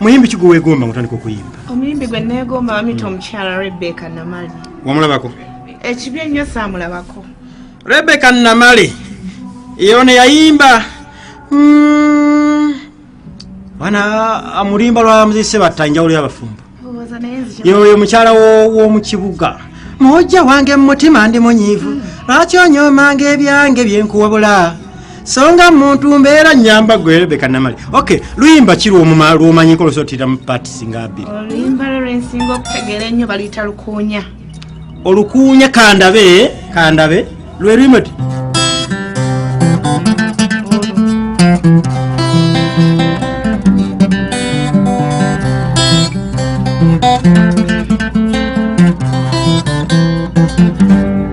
muyimbi ki gwewegomba ngotandika okuyimba omuyimbi gwe negomba bamita omukyala rebeka namale wamulabako ekibi ennyo samulabako rebeka namale yone yayimba hmm. wana amulimba lwa muzise batta enjawulo yabafumbo yoyo mukyala womukibuga mujja wange mumutima ndi munyiivu hmm. lwaki onyomanga ebyange byenkuwabula songa muntu mbeera nyamba gwe rebeka namale ok luyimba ki lwomumanyiko lusotiramu pati singa abiri oluyimba lwe lwensinga okutegeera ennyo baluyita lukuunya olukuunya kandabe kandabe lwe luyimba ti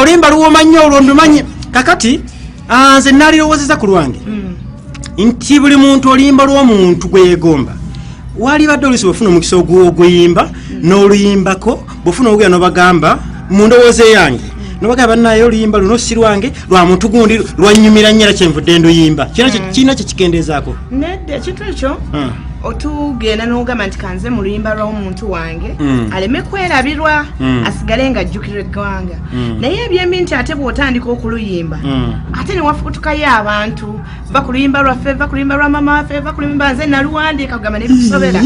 olimba luwoma nnyo olwo ndumanyi kakati ah, nze nalirowoozeza ku lwange hmm. nti buli muntu oluyimba lw'omuntu gweyegomba walibadde olusi bwefuna omukisa ogwoguyimba hmm. n'oluyimbako bwefuna ogugera nobagamba mu ndowooza eyange nobaga banaye oluyimba luno si lwange lwa muntu gundi lwanyumira nnyera kyenvudde nduyimba kirina hmm. kyekikendeezaako nedde ekintu ekyo hmm. otugenda nogamba nti kanze mu luyimba lw'omuntu wange mm. aleme kwerabirwa mm. asigale nga ajjukira eggwanga mm. naye ebyembi nti ate bw'otandika okuluyimba mm. ate newafukutukayo abantu va ku luyimba lwaffe va ku luyimba lwa mama waffe va ku luyimba nze naluwandiika kugamba nebitusobera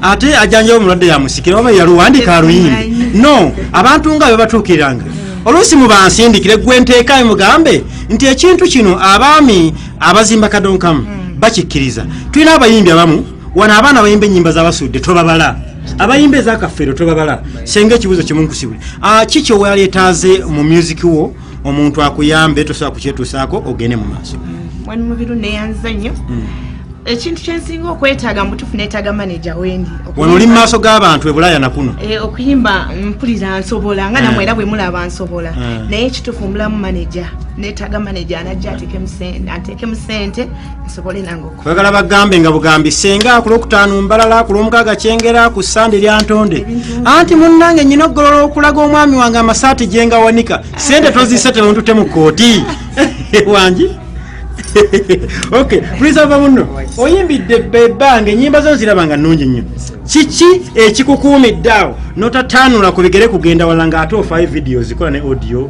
ate ajanjawo omulwadde yamusikira oba yaluwandiika aluyimba no abantu nga bebatuukiriranga oluusi mubansindikire gwe nteekayo mugambe nti ekintu kino abaami abazimba kadonkamu mm. bakikkiriza tulina abayimbi abamu wano abaana abayimba enyimba zabasudde tobabala abayimba ezakafeero tobabala senga ekibuzo kimunkusibwe ah, ki kyoweyaleetaaze mu music wo omuntu akuyambe tosobola kukyetuusaako ogende mu maaso mwani mubiru neyanza nnyo mm. ekintu kyensinga okwetaaga mubutufu netaaga maneja wendi wano oli mumaaso g'abantu ebulaya nakuno eh, okuyimba mpulira nsobola nga namwe eh. era bwemulaba nsobola eh. naye ekitufu mbulamu maneja netaga maneja anajja atekemu sente nsobole nangeoyagala bagambe nga bugambi senga ku lwokutaano mbalala ku lwomukaaga kyengera ku sande lyantonde anti munnange nyina okugolola okulaga omwami wange amasaati gyengawanika sente tozise temuntute mu kooti wangi ok prisava muno oyimbidde bebange enyimba zo nziraba nga nungi nnyo kiki ekikukuumidde awo notataanula ku bigere kugenda wala nga ate ofaayo vidiyo zikola ne audio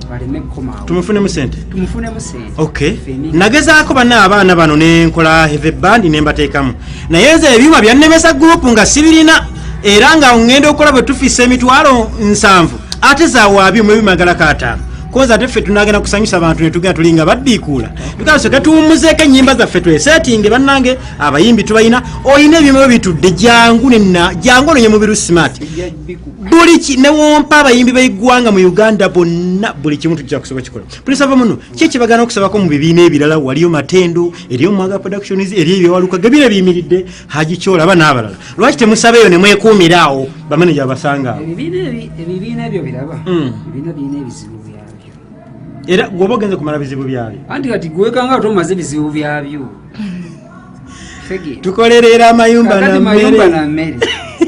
tumufunemu sente nagezaako bana abaana bano nenkola heve bandi nembateekamu naye nze ebyuma byannemesa gurupu nga sibirina era nga ŋŋenda okukola bwe tufiisa emitwalo nsanvu ate zawaabi mu ebimagala kaataano koza ate ffe tunagenda kusanyusa abantu netugenda tulinga baddiikuula tukaso tetuwummuzeeko ennyimba zaffe tweseetinge bannange abayimbi tubalina olina ebyuma byo bitudde jangu nenna jangu ononye mubiru smart buli ki newompa abayimbi beggwanga mu uganda bonna buli kimu tujja kusoba kikola pulisava muno ki ekibagana okusabako mu bibiina ebirala waliyo matendo eriyo mwaga productions eriyo ebyewaluka gebira biyimiridde haji kyola aba n'abalala lwaki temusaba eyo nemwekuumira awo bamaneja abasanga ebibiina ebyo biraba hmm. ebibiina birina ebizibu byabyo era gwoba ogenze kumala bizibu byabyo anti kati gwekanga ate omaze ebizibu byabyo tukolerera amayumba nammere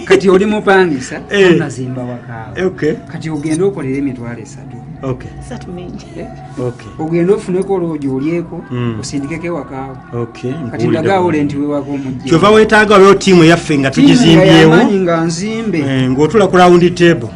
kati oli mupangisa eh. nazimba wakaawo kati ogenda okolera emitwalo esatu eh? ogenda ofuneko olwogi olyeko hmm. osindikeko ewakaawo kati ndagaawo lenti wewaka omujkyova wetaaga olwo tiimu yaffe nga tugizimbyewo nga nzimbe eh, ngaotula ku rawundi table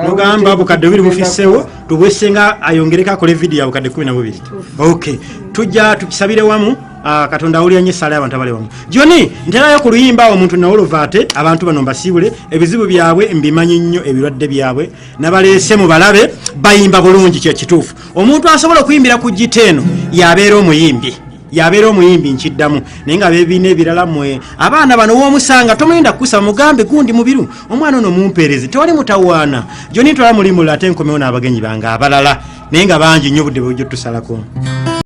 ogamba bukadde bubiri bufisewo tubwesenga ayongereko akole vidiyo abukadde kumi na bubiri ok tujja tukisabire wamu Ah, katonda awulira nyo esaala yabantu abali wamu joni nterayo ku luyimba omuntu nawolova ate abantu bano mbasiibule ebizibu byabwe mbimanyi nnyo ebirwadde byabwe nabaleese mu balabe bayimba bulungi kyekituufu omuntu asobola okuyimbira ku gita eno yabeera omuyimbi yabeera omuyimbi nkiddamu naye nga bebiina ebirala mwe abaana bano womusanga tomuyinda kukusa mugambe gundi mubiru omwana ono mumpeerezi tewali mutawaana joni ntwala mulimula ate nkomewo n'abagenyi bange abalala naye nga bangi nnyo obudde bwejjo tusalako